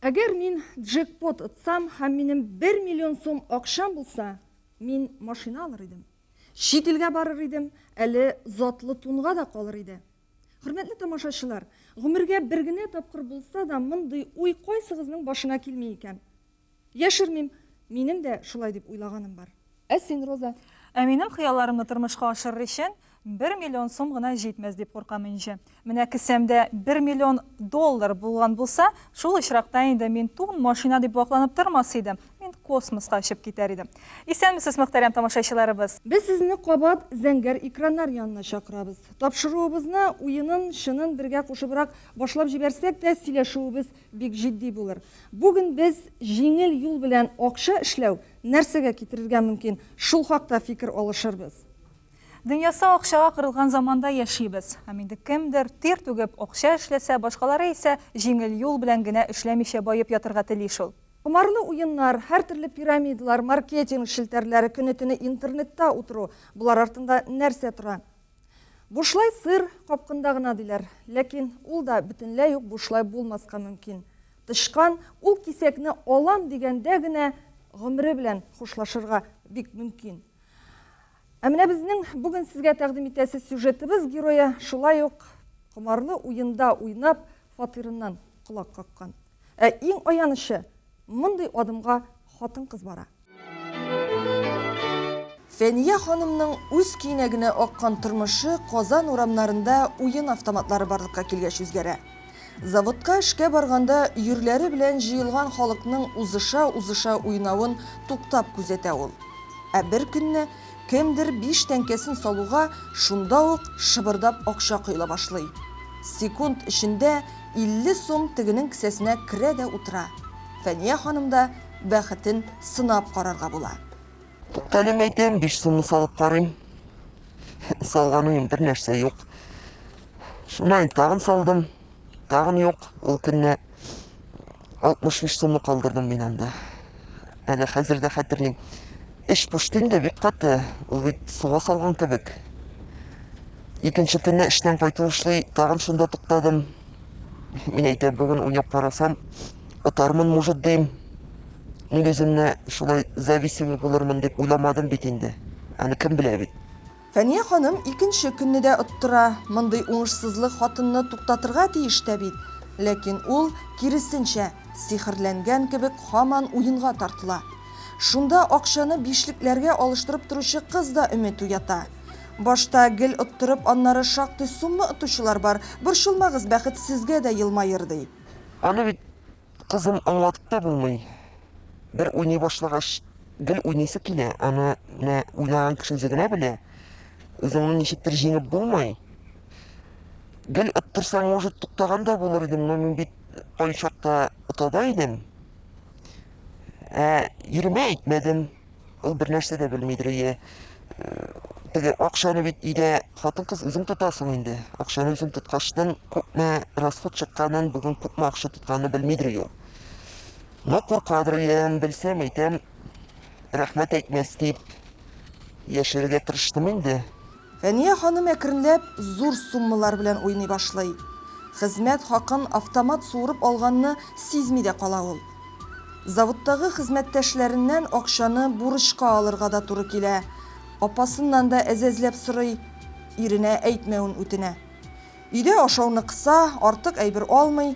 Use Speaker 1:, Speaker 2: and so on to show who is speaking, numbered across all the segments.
Speaker 1: Әгәр мин джекпот отсам һәм минем 1 миллион сум акчам булса, мин машина алыр идем. Чит илгә барыр идем, әле затлы тунга да калыр иде. Хөрмәтле тамашачылар, гомергә бер генә тапкыр булса да мондый уй кайсыгызның башына килми икән? Яшермим, минем дә шулай дип уйлаганым бар. Ә син, Роза? Ә минем хыялларымны
Speaker 2: тормышка ашырыр өчен бер миллион сум гына җитмәс дип куркам инже. Менә кесәмдә бер миллион доллар булган булса, шул очракта инде мин тун, машина дип вакланып тормас идем, мин космоска очып китәр идем. Исәнмесез, мөхтәрәм тамашачыларыбыз! Без сезне кабат
Speaker 1: зәңгәр экраннар янына чакырабыз. Тапшыруыбызны уенын-чынын бергә кушыбрак башлап җибәрсәк тә, сөйләшүебез Бик җитди булыр. Бүген без җиңел юл белән акча эшләү нәрсәгә китерергә мөмкин, шул хакта фикер алышырбыз. Дөньясы
Speaker 2: акчага корылган заманда яшибез. Һәм инде кемдер, тир түгеп, акча эшләсә, башкалары исә җиңел юл белән генә эшләмичә баеп ятырга тели шул. Комарлы уеннар,
Speaker 1: һәртөрле пирамидалар, маркетинг челтәрләре, көне-төне интернетта утыру, болар артында нәрсә тора? Бушлай сыр капкында гына диләр, ләкин ул да бөтенләй үк бушлай булмаска мөмкин. Тычкан ул кисәкне алам дигәндә генә гомере белән хушлашырга бик мөмкин. Ә менә безнең бүген сезгә тәкъдим итәсе сюжетыбыз герое шулай ук комарлы уенда уйнап фатирыннан колак каккан. Ә иң аянычы, мондый адымга хатын-кыз бара. Фәния ханымның үз көенә генә аккан тормышы Казан урамнарында уен автоматлары барлыкка килгәч үзгәрә. Заводка эшкә барганда йөрләре белән җыелган халыкның узыша-узыша уйнавын туктап күзәтә ул. Ә бер көнне Кемдер биш тәңкәсен салуга, шунда ук шыбырдап акча коела башлый. Секунд эчендә 50 сум тегенең кесәсенә керә дә утыра. Фәния ханым да бәхетен сынап карарга була. Тәлим
Speaker 3: әйтәм, биш сумны салып карыйм. Салганым бернәрсә юк. Шуннан тагын салдым. Тагын юк, ул көнне 65 сумны калдырдым мин анда. Әле хәзер дә хәтерлим. Эш пошты инде бик каты, ул бит суга салган кебек. Икенче көнне эштән кайту эшли, тагын шунда туктадым. Мин әйтә, бүген уйнап карасам, отармын, может, дим. Мин үземне шулай зависимый булырмын дип уйламадым бит инде. Аны кем белә бит. Фәния ханым
Speaker 1: икенче көнне дә оттыра. Мондый уңышсызлык хатынны туктатырга тиеш тә бит. Ләкин ул, киресенчә, сихерләнгән кебек һаман уенга тартыла. Шунда акчаны бишлекләргә алыштырып торучы кыз да өмет уята. Башта гел оттырып, аннары шактый сумма отучылар бар, борчылмагыз, бәхет сезгә дә елмаер, ди. Аны бит
Speaker 3: Кызым аңлатып та булмый. Бер уйный башлагач, гел уйныйсы килә. Аны менә уйнаган кеше үзе генә белә. Үзеңне ничектер җиңеп булмый. Гел оттырсаң, может, туктаган да булыр идем, но мин бит кайчакта отада идем. Ә йөрмә әйтмәдем. Ул бернәрсә дә белмидер, әйе. Теге акчаны бит өйдә хатын-кыз үзең тотасың инде. Акчаны үзең тоткачтан күпме расход чыкканын, бүген күпме акча тотканны белмидер ул. Но куркадыр, әйем, белсәм, әйтәм, рәхмәт әйтмәс дип яшәргә тырыштым инде. Фәния ханым
Speaker 1: әкренләп зур суммалар белән уйный башлый. Хезмәт хакын автомат суырып алганны сизми дә кала ул. Заводтагы хезмәттәшләреннән акчаны бурычка алырга да туры килә, апасыннан да әзәзләп сорый, иренә әйтмәвен үтенә. Өйдә ашауны кыса, артык әйбер алмый.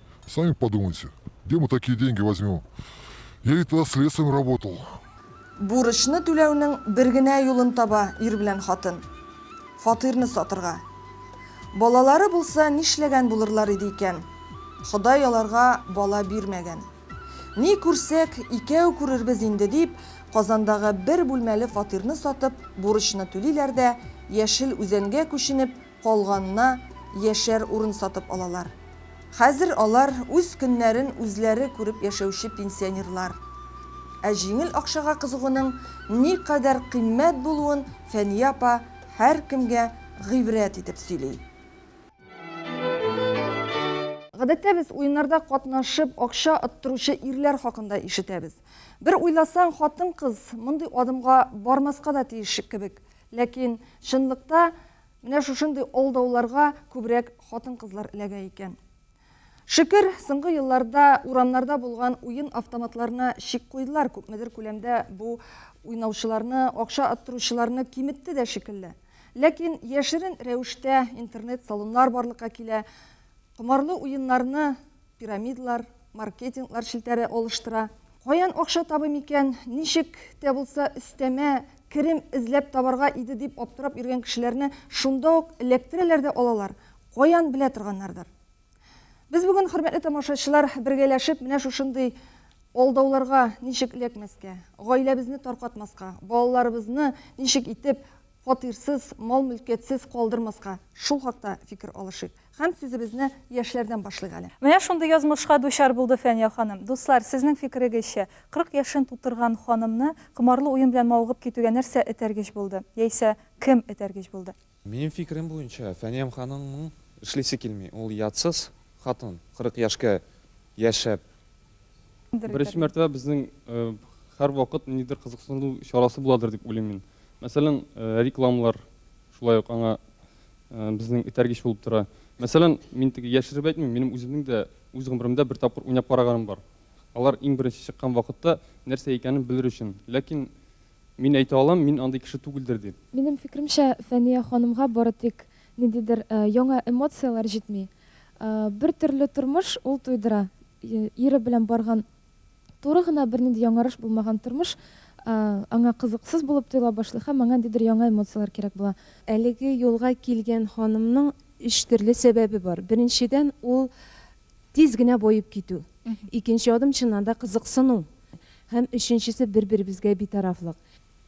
Speaker 4: Сами подумайте, где мы такие деньги возьмем? Я ведь тогда следствием работал. Бурычны
Speaker 1: түләүнең бер генә юлын таба ир белән хатын. Фатирны сатырга. Балалары булса, нишләгән булырлар иде икән? Ходай аларга бала бирмәгән. Ни күрсәк, икәү күрербез инде дип, Казандагы бер бүлмәле фатирны сатып, бурычны түлиләр дә, Яшел Үзәнгә күченеп, калганына яшәр урын сатып алалар. Хәзер алар үз көннәрен үзләре күреп яшәүче пенсионерлар. Ә җиңел акчага кызыгуның никадәр кыйммәт булуын Фәния апа һәркемгә гыйбрәт итеп сөйли. Гадәттә без уеннарда катнашып, акча оттыручы ирләр хакында ишетәбез. Бер уйласаң, хатын-кыз мондый адымга бармаска да тиеш кебек. Ләкин, чынлыкта, Менә шушындый алдауларга күбрәк хатын-кызлар эләгә икән. Шөкер, соңгы елларда урамнарда булган уен автоматларына чик куйдылар, күпмедер күләмдә бу уйнаучыларны, акча оттыручыларны киметте дә шикелле. Ләкин яшерен рәвештә интернет-салоннар барлыкка килә, комарлы уеннарны Пирамидлар, маркетинглар челтәре алыштыра. Каян акча табыйм икән, ничек тә булса өстәмә керем эзләп табарга иде дип аптырап йөргән кешеләрне шунда ук эләктерәләр дә алалар, каян белә торганнардыр. Без бүген, хөрмәтле тамашачылар, бергәләшеп менә шушындый алдауларга ничек эләкмәскә, гаиләбезне таркатмаска, балаларыбызны ничек итеп фатирсыз, мал-мөлкәтсез калдырмаска, шул хакта фикер алышыйк. Һәм сүзебезне яшьләрдән башлыйк әле. Менә шундый язмышка
Speaker 2: дучар булды Фәния ханым. Дуслар, сезнең фикерегезчә, 40 яшен тутырган ханымны комарлы уен белән мавыгып китүгә нәрсә этәргеч булды? Яисә кем этәргеч булды? Минем фикерем буенча,
Speaker 5: Фәниям ханымның эшлисе килми. Ул ятсыз хатын, 40 яшькә яшәп.
Speaker 6: Беренче мәртәбә безнең һәрвакыт ниндидер кызыксыну чарасы буладыр дип уйлыйм мин. Мәсәлән, рекламалар шулай ук аңа безнең этәргеч булып тора. Мәсәлән, мин теге яшереп әйтмим, минем үземнең дә үз гомеремдә бер тапкыр уйнап караганым бар. Алар иң беренче чыккан вакытта нәрсә икәнен белер өчен. Ләкин мин әйтә алам, мин андый кеше түгелдер дип. Минем фикеремчә,
Speaker 7: Фәния ханымга бары тик ниндидер яңа эмоцияләр җитми. Бертөрле тормыш ул туйдыра. Ире белән барган Туры гына бернинди яңарыш булмаган тормыш аңа кызыксыз булып тоела башлый һәм аңа ниндидер яңа эмоцияләр кирәк була. Әлеге юлга
Speaker 8: килгән ханымның өч төрле сәбәбе бар. Беренчедән, ул тиз генә баеп китү. Икенче адым, чыннан да, кызыксыну. Һәм өченчесе, бер-беребезгә битарафлык.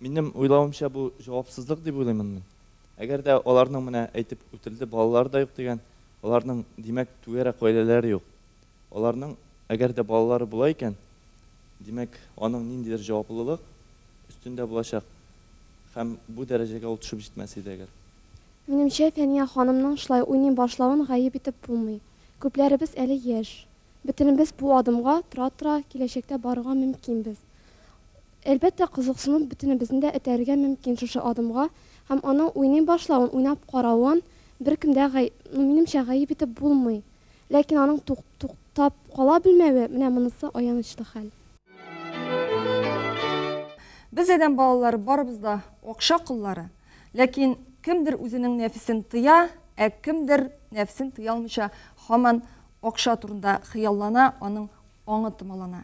Speaker 8: Минем
Speaker 9: уйлавымча, бу җавапсызлык дип уйлыймын мин. Әгәр дә аларның, менә әйтеп үтелде, балалары да юк дигән, аларның, димәк, түгәрәк гаиләләре юк. Аларның, әгәр дә балалары була икән, димәк, аның ниндидер җаваплылык өстендә булачак һәм бу дәрәҗәгә ул төшеп җитмәс иде әгәр. Минемчә,
Speaker 7: Фәния ханымның шулай уйный башлавын гаеп итеп булмый. Күпләребез әле яшь. Бөтенебез бу адымга тора-тора киләчәктә барырга мөмкинбез. Әлбәттә, кызыксыну бөтенебезне дә этәрергә мөмкин шушы адымга һәм аның уйный башлавын, уйнап каравын беркем дә, минемчә, гаеп итеп булмый. Ләкин аның тук туктап кала белмәве, менә монысы аянычлы хәл.
Speaker 1: Без адәм балалары барыбыз да акча коллары. Ләкин кемдер үзенең нәфесен тыя, ә кемдер нәфесен тыя алмыйча һаман акча турында хыяллана, аның аңы томалана.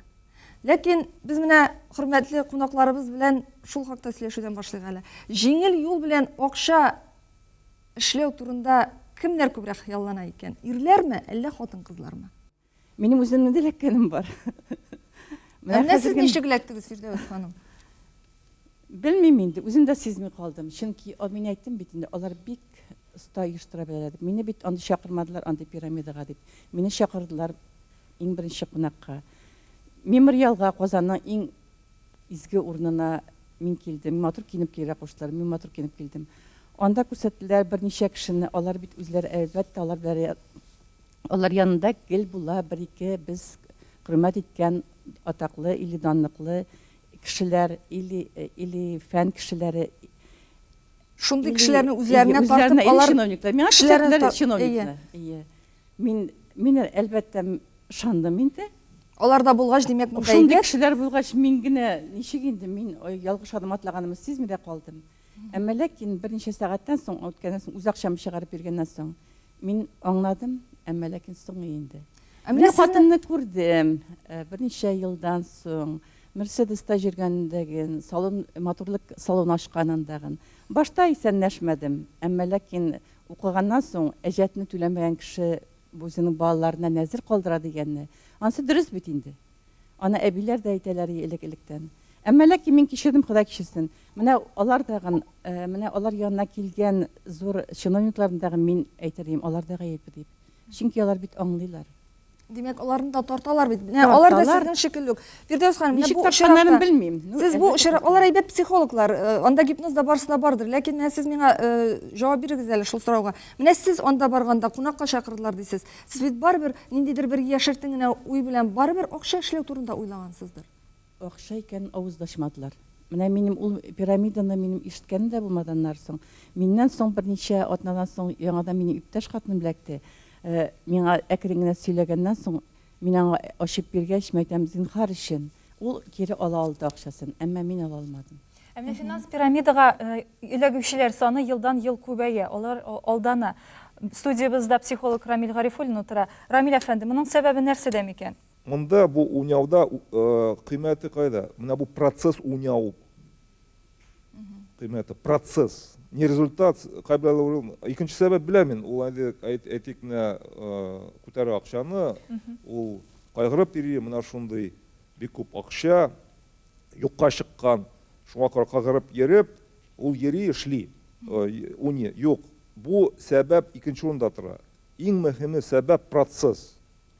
Speaker 1: Ләкин без менә хөрмәтле кунакларыбыз белән шул хакта сөйләшүдән башлыйк әле. Җиңел юл белән акча Эшләү турында кемнәр күбрәк хыяллана икән? Ирләрме, әллә хатын-кызлармы? Минем
Speaker 10: үземнең дә эләккәнем бар. Менә
Speaker 1: Әнә сез ничек эләктегез, Фирдәвес ханым?
Speaker 10: Белмим инде, үзем дә сизми калдым. Чөнки а, мин әйттем бит инде, алар бик оста оештыра беләләр дип. Мине бит андый чакырмадылар, андый пирамидага дип. Мине чакырдылар иң беренче кунакка. Мемориалга, Казанның иң Изге урынына мин килдем. Матур киенеп килергә куштылар. Мин матур киенеп килдем. Анда күрсәттеләр берничә кешене. Алар бит үзләре, әлбәттә, алар белән ря- алар янында гел була бер-ике без хөрмәт иткән атаклы или данлыклы кешеләр, или, или фән кешеләре,
Speaker 1: Шундый или, кешеләрне или үзләренә үзләренә, тартып, или алар чиновниклар. Миңа кешеләрне күрсәттеләр
Speaker 10: та- чиновникны. Әйе. Әйе. Мин, мин әлбәттә ышандым инде. Алар да булгач,
Speaker 1: димәк, монда Шундый әйбәт. кешеләр булгач,
Speaker 10: мин генә ничек инде, мин ой, ялгыш адым атлаганымны сизми дә калдым. Әмма ләкин берничә сәгатьтән соң, үткәннән соң, үз акчам чыгарып биргәннән соң, мин аңладым, әмма ләкин соңы инде. Ә менә Мин сезне- хатынны күрдем, э, берничә елдан соң, Мерседеста йөргәндәген, салон, матурлык салоны ачканындагын. Башта исәнләшмәдем, әмма ләкин Укыганнан соң, әҗәтне түләмәгән кеше үзенең балаларына нәзер калдыра дигәнне, анысы дөрес бит инде. Аны әбиләр дә әйтәләр и элек-электән. Әмма ләкин мин кичердем, Ходай кичерсен. Менә алар тагын, менә алар янына килгән зур чиновникларны тагын мин әйтер идем, алар да гаепле дип. Чөнки алар бит аңлыйлар. Димәк,
Speaker 1: аларны да тарталар бит. Менә алар да Тарталар. сезнең шикелле үк.
Speaker 10: Фирдәүс
Speaker 1: ханым, менә Ничек бу тартсаннарын очракта- белмим. Ну,
Speaker 10: Сез бу әлбәттә,
Speaker 1: очрак,
Speaker 10: алар
Speaker 1: әйбәт психологлар, э, анда гипноз да барысы да бардыр. Ләкин менә сез миңа э, җавап бирегез әле шул сорауга. Менә сез анда барганда кунакка чакырдылар дисез. Сез бит барыбер ниндидер бер яшертен генә уй белән барыбер акча эшләү турында уйлагансыздыр. Акча
Speaker 10: икәнен авыз да ачмадылар. Менә минем ул пирамиданы минем ишеткәнем дә булмады аннары соң. Миннән соң берничә атнадан соң яңадан минем иптәш хатыным эләкте. Миңа әкрен генә сөйләгәннән соң, мин аңа ачып биргәч, мәйтәм, зинһар өчен. Ул кире ала алды акчасын, әмма мин ала алмадым. Ә менә финанс
Speaker 2: пирамидага эләгүчеләр саны елдан-ел күбәя, алар алдана. Студиябездә психолог Рамил Гарифуллин утыра. Рамил әфәнде, моның сәбәбе нәрсәдә микән? Монда бу
Speaker 11: уйнауда кыйммәте кайда? Менә бу процесс уйнау кыйммәте. Процесс. Не результат. Кайберләр икенче сәбәп беләм мин. Ул әле әйтик менә күтәрә акчаны, ул кайгырып йөри, менә шундый бик күп акча юкка чыккан. Шуңа күрә кайгырып йөреп, ул йөри, эшли. Уйный. Юк. Бу сәбәп икенче урында тора. Иң мөһиме сәбәп процесс.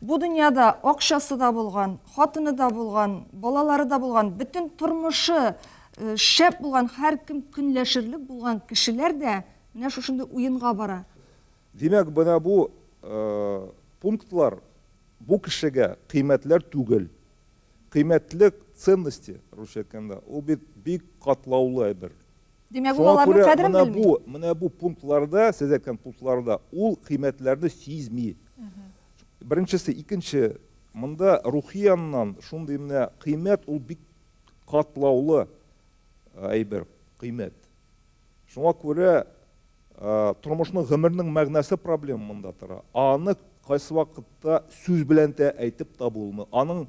Speaker 1: Бу дөньяда акчасы да булган, хатыны да булган, балалары да булган, бөтен тормышы шәп булган, һәркем көнләшерлек булган кешеләр дә менә шушындый уенга бара. Димәк, менә
Speaker 11: бу пунктлар бу кешегә кыйммәтләр түгел. Кыйммәтлек, ценности, русча әйткәндә, ул бит бик катлаулы әйбер. Димәк, ул аларның кадерен
Speaker 1: белми. Шуңа күрә менә бу пунктларда,
Speaker 11: сез әйткән пунктларда ул кыйммәтләрне сизми. Беренчесе, икенче, монда рухи яннан шундый менә кыйммәт ул бик катлаулы әйбер, кыйммәт. Шуңа күрә тормышның, гомернең мәгънәсе проблем монда тора. Аны кайсы вакытта сүз белән дә әйтеп табылмый. Аның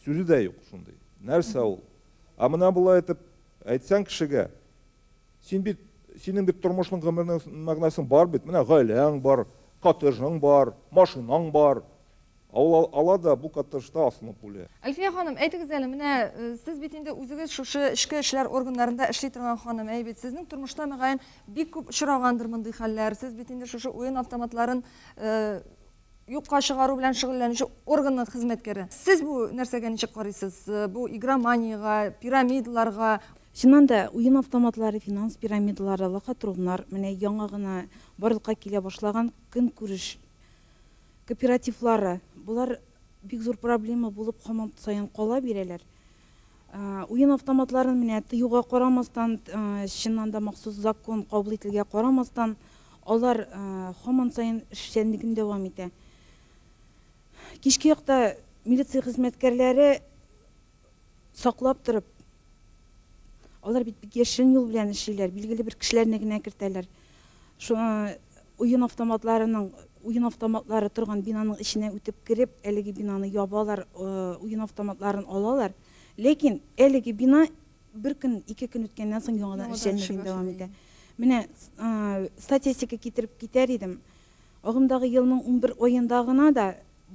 Speaker 11: сүзе дә юк шундый. Нәрсә ул? Ә менә болай итеп Әйтсәң кешегә, син бит, синең бит тормышның гомернең мәгънәсең бар бит, менә гаиләң бар, коттеджың бар, машинаң бар. Ә ул ала да бу коттеджда асылынып үлә. Әлфия ханым, әйтегез
Speaker 1: әле, менә сез бит инде үзегез шушы эчке эшләр органнарында эшли торган ханым, әй бит, сезнең тормышта, мөгаен, бик күп очрагандыр мондый хәлләр, сез бит инде шушы уен автоматларын юкка чыгару белән шөгыльләнүче органның хезмәткәре. Сез бу нәрсәгә ничек карыйсыз? Бу игроманиягә, пирамидаларга? Чыннан да,
Speaker 8: уен автоматлары, финанс пирамидалары, лохотрумнар, менә яңа гына барлыкка килә башлаган көнкүреш кооперативлары, болар бик зур проблема булып һаман саен кала бирәләр. Уен автоматларын менә тыюга карамастан, чыннан да махсус закон кабул ителгә карамастан, алар һаман саен эшчәнлеген дәвам итә. Кичке якта милиция хезмәткәрләре саклап торып, алар бит бик яшерен юл белән эшлиләр, билгеле бер кешеләрне генә кертәләр. Шуңа уен автоматларының уен автоматлары торган бинаның эченә үтеп кереп, әлеге бинаны ябалар, уен автоматларын алалар. Ләкин әлеге бина бер көн, ике көн үткәннән соң яңадан эшчәнлеген дәвам итә. Менә статистика китереп китәр идем. Агымдагы елның 11 аенда гына да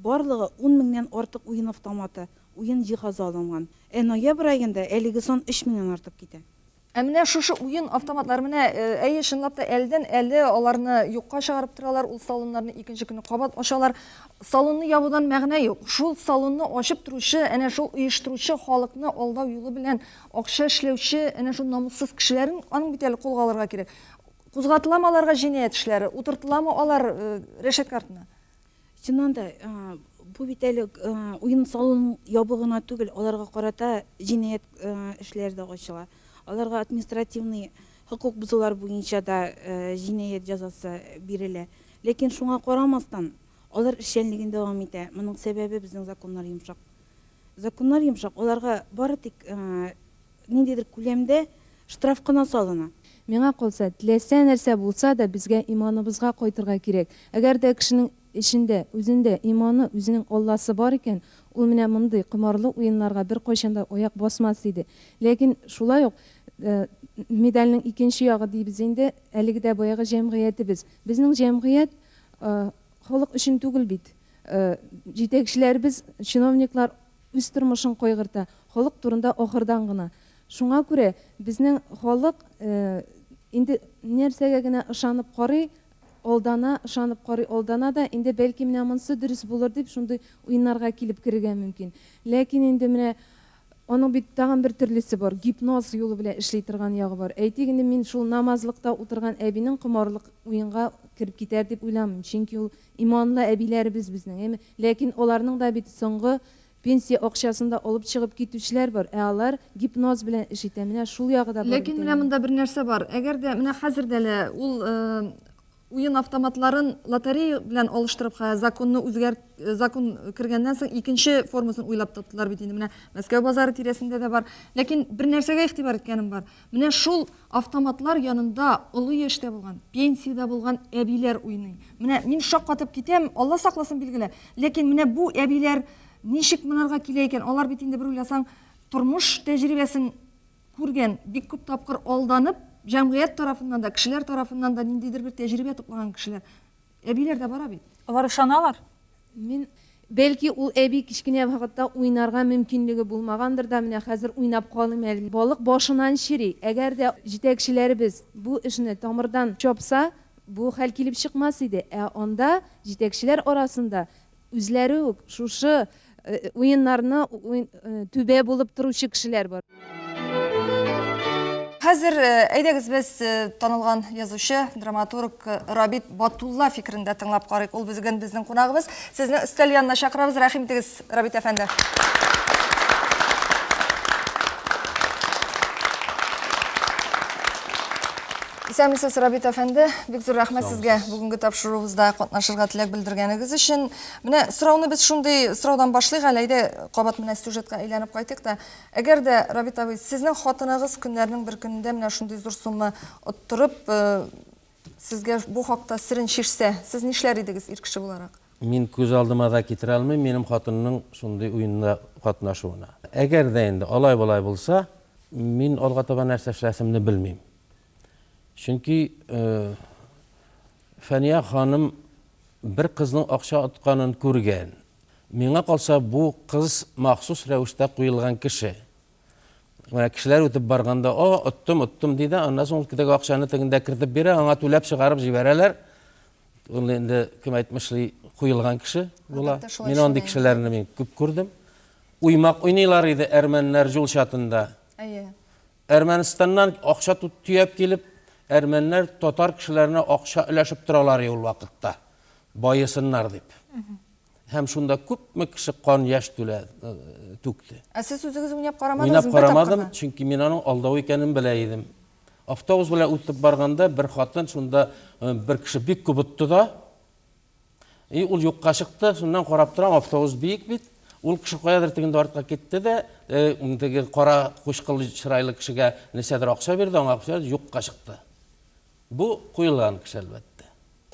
Speaker 8: барлыгы 10 меңнән артык уен автоматы, уен җиһазы алынган. Ә ноябрь аенда әлеге сан 3 меңнән артып китә. Ә менә шушы
Speaker 1: уен автоматлары менә, әйе, чынлап та әлдән-әле аларны юкка чыгарып торалар, ул салоннарны икенче көнне кабат ачалар. Салонны ябудан мәгънә юк. Шул салонны ачып торучы, әнә шул оештыручы халыкны алдау юлы белән акча эшләүче әнә шул намуссыз кешеләрен, аның бит әле кулга алырга кирәк. Кузгатыламы аларга җинаять эшләре, утыртыламы алар рәшәткә артына? Чыннан да,
Speaker 8: бу бит әле уен-салон ябу гына түгел, аларга карата җинаять эшләре дә ачыла. Аларга административный хокук бозулар буенча да җинаять җәзасы бирелә. Ләкин шуңа карамастан, алар эшчәнлеген дәвам итә. Моның сәбәбе безнең законнар йомшак. Законнар йомшак, аларга бары тик ниндидер күләмдә штраф кына салына. Миңа калса,
Speaker 12: теләсә нәрсә булса да, безгә иманыбызга кайтырга кирәк. Әгәр дә кешенең эчендә,
Speaker 8: үзендә иманы, үзенең Алласы бар икән, ул менә мондый комарлы уеннарга беркайчан да аяк басмас иде. Ләкин шулай ук медальнең икенче ягы дибез инде, әлеге дә баягы җәмгыятебез. Безнең җәмгыять халык өчен түгел бит. Җитәкчеләребез, чиновниклар үз тормышын кайгырта, халык турында ахырдан гына. Шуңа күрә безнең халык инде нәрсәгә генә ышанып карый, алдана, ышанып карый, алдана да, инде бәлки менә монсы дөрес булыр дип шундый уеннарга килеп керергә мөмкин. Ләкин инде менә аның бит тагын бер төрлесе бар, гипноз юлы белән эшли торган ягы бар. Әйтик инде мин шул намазлыкта утырган әбинең комарлык уенга кереп китәр дип уйламыйм, чөнки ул Иманлы әбиләребез безнең, әйме? Ләкин аларның да бит соңгы пенсия акчасын да алып чыгып китүчеләр бар. Ә алар гипноз белән эш итә. Менә шул ягы да бар бит Ләкин менә әнә. монда бер нәрсә
Speaker 1: бар. Әгәр дә менә хәзер дә лә ул уен автоматларын лотерея белән алыштырып хә законны үзгәрт закон кергәннән соң икенче формасын уйлап таптылар бит инде. Менә Мәскәү базары тирәсендә дә бар. Ләкин бер нәрсәгә игътибар иткәнем бар. Менә шул автоматлар янында олы яшьтә булган, пенсиядә булган әбиләр уйный. Менә мин шаккатып китәм, Алла сакласын, билгеле. Ләкин менә бу әбиләр ничек монарга килә икән? Алар бит инде бер уйласаң, тормыш тәҗрибәсен күргән, бик күп тапкыр алданып, җәмгыять тарафыннан да, кешеләр тарафыннан да ниндидер бер тәҗрибә туплаган кешеләр. Әбиләр дә бара бит. Алар ышаналар.
Speaker 2: Мин
Speaker 8: Бәлки ул әби кечкенә вакытта уйнарга мөмкинлеге булмагандыр да, менә хәзер уйнап калыйм әле. Балык башыннан чери. Әгәр дә җитәкчеләребез бу эшне тамырдан чапса, бу хәл килеп чыкмас иде. Ә анда җитәкчеләр арасында Үзләре үк шушы уеннарны түбә булып торучы кешеләр бар.
Speaker 1: Хәзер әйдәгез без танылган язучы, драматург Рабит Батулла фикерен дә тыңлап карыйк. Ул бүген безнең кунагыбыз. Сезне өстәл янына чакырабыз. Рәхим итегез, Рабит әфәнде. Исәнмесез, Рабит әфәнде. Бик зур рәхмәт сезгә бүгенге тапшыруыбызда катнашырга теләк белдергәнегез өчен. Менә сорауны без шундый сораудан башлыйк әле, әйдә, кабат менә сюжетка әйләнеп кайтыйк та. Әгәр дә, Рабит абый, сезнең хатыныгыз көннәрнең бер көнендә менә шундый зур сумма оттырып, сезгә бу хакта серен чишсә, сез нишләр идегез ир кеше буларак? Мин күз алдыма
Speaker 12: да китерә алмыйм минем хатынның шундый уенда катнашуына. Әгәр дә инде алай-болай булса, мин алга таба нәрсә эшләсемне белмим. Чөнки Фәния ханым бер кызның акча отканын күргән. Миңа калса, бу кыз махсус рәвештә куелган кеше. Менә кешеләр үтеп барганда, "О, оттым, оттым" ди дә, аннан соң теге акчаны тегендә кертеп бирә, аңа түләп чыгарып җибәрәләр. Ул инде кем әйтмешли, куелган кеше була. Мин андый кешеләрне мин күп күрдем. Уймак уйныйлар иде әрмәннәр җул чатында. Әйе. Әрмәнстаннан акча төяп килеп, әрмәннәр татар кешеләренә акча өләшеп торалар и ул вакытта, баесыннар дип. Һәм шунда күпме кеше кан яшь түлә, түкте. Ә сез үзегез уйнап
Speaker 1: карамадыгызмы бер тапкыр да? Уйнап карамадым, чөнки
Speaker 12: мин аның алдау икәнен белә идем. Автобус белән үтеп барганда, бер хатын шунда бер кеше бик күп отты да, И ул юкка чыкты, шуннан карап торам, автобус биек бит. Ул кеше каядыр тегендә артка китте дә, э, теге кара кучкылы чырайлы кешегә нәрсәдер акча бирде, аңа акча бирде, юкка чыкты. Бу куелган кеше, әлбәттә.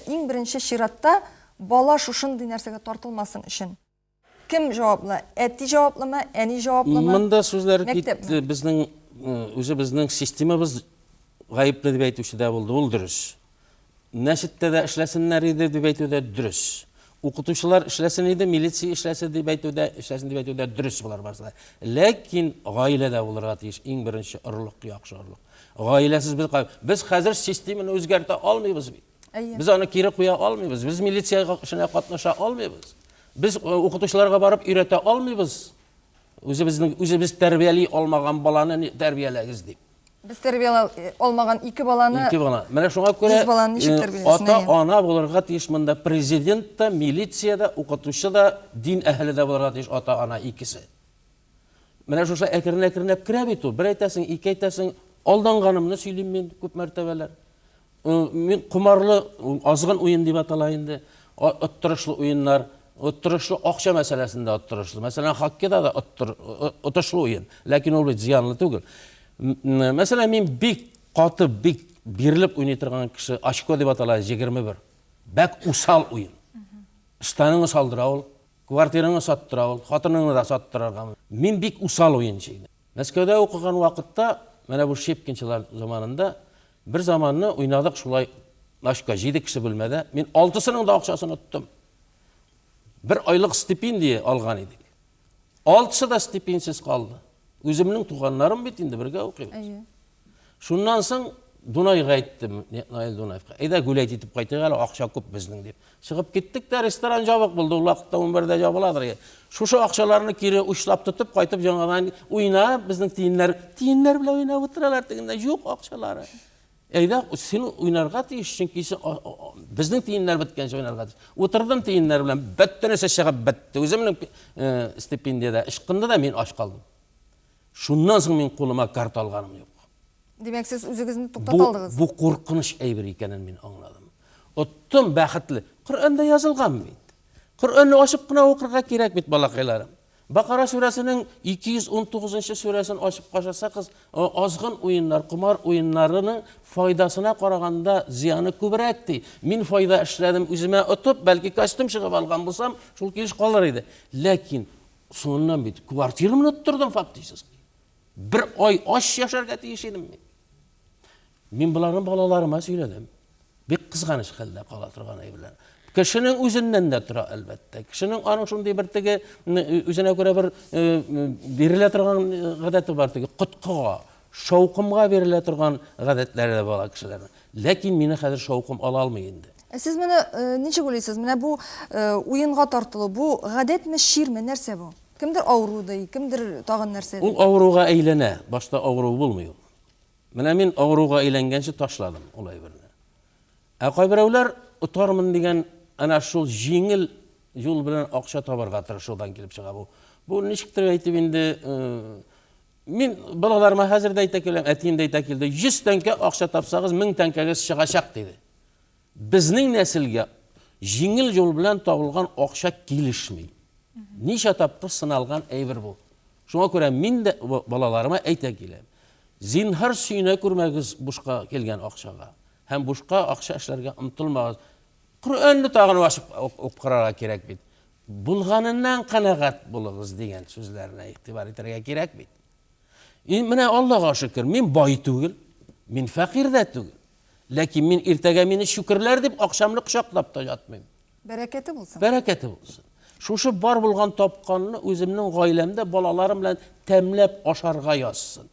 Speaker 12: Иң беренче
Speaker 1: чиратта, бала шушындый нәрсәгә тартылмасын өчен. Кем җаваплы? Әти җаваплымы, әни җаваплымы? Монда сүзләр
Speaker 12: китте. Безнең үзебезнең системабыз гаепле дип әйтүче дә булды, ул дөрес. Мәчеттә дә эшләсеннәр иде дип әйтү дә дөрес. Укытучылар эшләсен иде, милиция эшләсе дип әйтү дә, эшләсен дип әйтү дә дөрес булар барысы да. Ләкин гаиләдә булырга тиеш иң беренче орлык, яхшы орлык. Гаиләсез без без хәзер системаны үзгәртә алмыйбыз бит. Әйе. Без аны кире куя алмыйбыз. Без милиция эшенә катнаша алмыйбыз. Без э, укытучыларга барып өйрәтә алмыйбыз. Үзебезнең үзебез тәрбияли алмаган баланы тәрбияләгез дип. Без тәрбияла э,
Speaker 1: алмаган ике баланы Ике бала. Менә шуңа күрә
Speaker 12: э, ата ана булырга тиеш монда президент та, милиция дә, укытучы да, дин әһеле дә булырга тиеш ата ана икесе. Менә шушы әкрен-әкренләп керә бит ул. Бер әйтәсең, ике әйтәсең, алданганымны сөйлим мин күп мәртәбәләр. Мин кумарлы азгын уен дип атала инде. Оттырышлы уеннар, оттырышлы акча мәсьәләсендә оттырышлы. Мәсәлән, хоккейда да оттыр, отышлы уен, ләкин ул бит зыянлы түгел. Мәсәлән, мин бик каты, бик бирелеп уйный торган кеше, очко дип атала 21. Бәк усал уен. Штаныңны салдыра ул. Квартираңны саттыра ул, хатыныңны да саттырыргамы? Мин бик усал уенчы идем. Мәскәүдә укыган вакытта, менә бу Щепкинчылар заманында, бер заманны уйнадык шулай ночка, җиде кеше бүлмәдә. Мин алтысының да акчасын оттым. Бер айлык стипендия алган идек. Алтысы да стипендиясез калды. Үземнең туганнарым бит инде, бергә укыйбыз. Шуннан соң Дунайга әйттем, Наил Дунаевка, әйдә гүләйт итеп кайтыйк әле, акча күп безнең дип. Чыгып киттек тә, ресторан жабык булды, ул вакытта 11-дә жабыладыр. Шушы акчаларны кире учлап тотып кайтып яңадан уйна, безнең тиеннәр, тиеннәр белән уйнап утыралар тегендә, юк акчалары. Әйдә, син уйнарга тиеш, чөнки безнең тиеннәр беткәнче уйнарга тиеш. Утырдым тиеннәр белән, бөтенесе чыгып бетте. Үземнең э, стипендиядә ычкынды да мин ач калдым. Шуннан соң мин кулыма карта алганым юк. Димәк, сез
Speaker 1: үзегезне туктата алдыгыз? Бу куркыныч
Speaker 12: әйбер икәнен мин аңладым. Оттым, бәхетле. Коръәндә язылган бит. Коръәнне ачып кына укырга кирәк бит, балакайларым. Бакара сүрәсенең 219 сүрәсен ачып кашасагыз, азгын уеннар, комар уеннарының файдасына караганда зыяны күбрәк ди. Мин файда эшләдем, үземә отып, бәлки костюм чыгып алган булсам, шул килеш калыр иде. Ләкин Соңыннан бит квартирамны оттырдым фактически. Бер ай ач яшәргә тиеш идем мин. Мин боларны балаларыма сөйләдем. Бик кызганыч хәлдә кала торган әйберләр. Кешенең үзеннән дә тора, әлбәттә. Кешенең аның шундый бер теге үзенә күрә бер бирелә торган гадәте бар теге коткыга. Шаукымга бирелә торган гадәтләре дә бар ала кешеләрнең. Ләкин мине хәзер шаукым ала алмый инде. Ә сез моны э,
Speaker 1: ничек уйлыйсыз? Менә бу э, уенга тартылу, бу гадәтме, чирме, нәрсә бу? Кемдер авыру ди, кемдер тагын нәрсә ди. Ул авыруга әйләнә,
Speaker 12: башта авыру булмый ул. Менә мин авыруга әйләнгәнче ташладым ул әйберне. Ә кайберәүләр отармын дигән әнә шул җиңел юл белән акча табарга тырышудан килеп чыга бу. Бу ничектер әйтеп инде э, Мин балаларыма хәзер дә әйтә киләм, әтием дә әйтә килде, 100 тәңкә акча тапсагыз, 1000 тәңкәгез чыгачак диде. Безнең нәселгә җиңел юл белән табылган акча килешми. Ничә тапкыр сыналган әйбер бу. Шуңа күрә мин дә балаларыма әйтә киләм. Зинһар сөенә күрмәгез бушка килгән акчага. Һәм бушка акча эшләргә омтылмагыз. Коръәнне тагын ачып укырга кирәк бит. Булганыннан канәгать булыгыз, дигән сүзләренә игътибар итәргә кирәк бит. И, менә Аллага шөкер, мин бай түгел, мин фәкыйрь дә түгел. Ләкин мин иртәгә мине чүкерләр дип акчамны кочаклап та ятмыйм. Бәрәкәте булсын.
Speaker 1: Бәрәкәте булсын.
Speaker 12: Шушы бар булган тапканны үземнең гаиләмдә балаларым белән тәмләп ашарга язсын.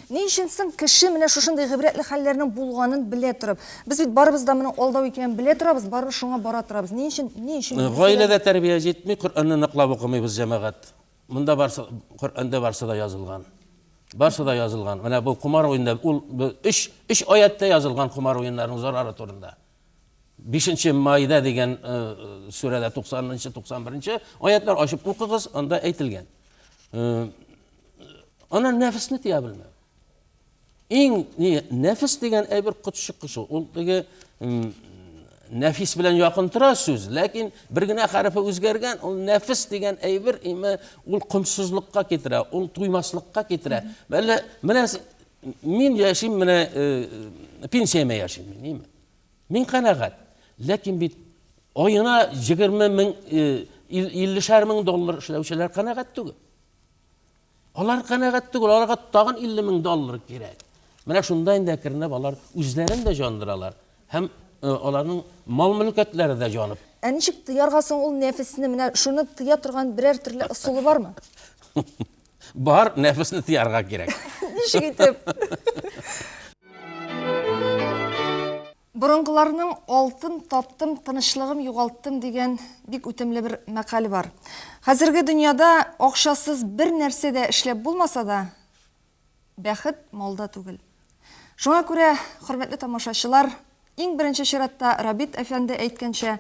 Speaker 12: Ни өчен
Speaker 1: соң кеше менә шушындый гыйбрәтле хәлләрнең булганын белә торып? Без бит барыбыз да моның алдау икәнен белә торабыз, барыбыз шуңа бара торабыз. Ни өчен? Ни өчен? Гаиләдә тәрбия
Speaker 12: җитми, Коръәнне ныклап укымыйбыз, җәмәгать. Монда барсы, Коръәндә барсы да язылган. Барсы да язылган. Менә бу комар уенда, ул өч, өч аятьтә язылган комар уеннарының зарары турында. Бишенче Майда дигән э, сүрәдә 90-91 аятлар ачып укыгыз, анда әйтелгән. Э, ана нәфесне тия белмәү. Иң не, нәфес дигән әйбер котшыккы шул. Ул теге нәфис белән якын тора сүз, ләкин бер генә хәрефе үзгәргән, ул нәфес дигән әйбер име ул комсызлыкка китерә, ул туймаслыкка китерә. Бәллә менә Мин яшим менә э, пенсияме яшим, ними. Мин канагат. Ләкин бит айына 20 мең, 50 э, шәр мең доллар эшләүчеләр канагат түгел. Алар канагат түгел, аларга тагын 50 мең доллар кирәк. Менә шунда инде әкренләп алар үзләрен дә җандыралар һәм Э, аларның мал мөлкәтләре дә җанып. Ә ничек тыярга
Speaker 1: соң ул нәфесне? Менә шуны тыя торган берәр төрле ысулы бармы?
Speaker 12: Бар, нәфесне тыярга кирәк. Ничек итеп?
Speaker 1: Борынгыларның алтын таптым, тынычлыгым югалттым дигән бик үтемле бер мәкаль бар. Хәзерге дөньяда акчасыз бер нәрсә дә эшләп булмаса да, бәхет малда түгел. Шуңа күрә, хөрмәтле тамашачылар, Иң беренче чиратта, Рабит әфәнде әйткәнчә,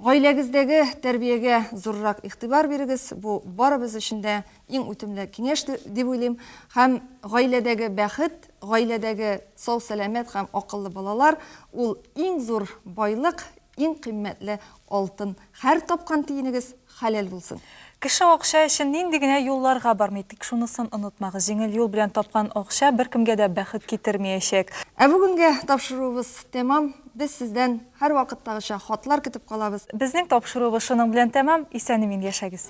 Speaker 1: гаиләгездәге тәрбиягә зуррак игътибар бирегез, бу барыбыз өчен дә иң үтемле киңәш дип уйлыйм. Һәм гаиләдәге бәхет, гаиләдәге сау-сәламәт һәм акыллы балалар, ул иң зур байлык, иң кыйммәтле алтын. Һәр тапкан тиенегез Хәләл булсын. Кеше акча
Speaker 2: өчен нинди генә юлларга бармый, тик шунысын онытмагыз, җиңел юл белән тапкан акча беркемгә
Speaker 1: дә
Speaker 2: бәхет китермиячәк. Ә бүгенгә тапшыруыбыз
Speaker 1: тәмам.
Speaker 2: Без
Speaker 1: сездән һәрвакыттагыча хатлар
Speaker 2: көтеп калабыз. Безнең тапшыруыбыз
Speaker 1: шуның
Speaker 2: белән тәмам. Исән-имин яшәгез!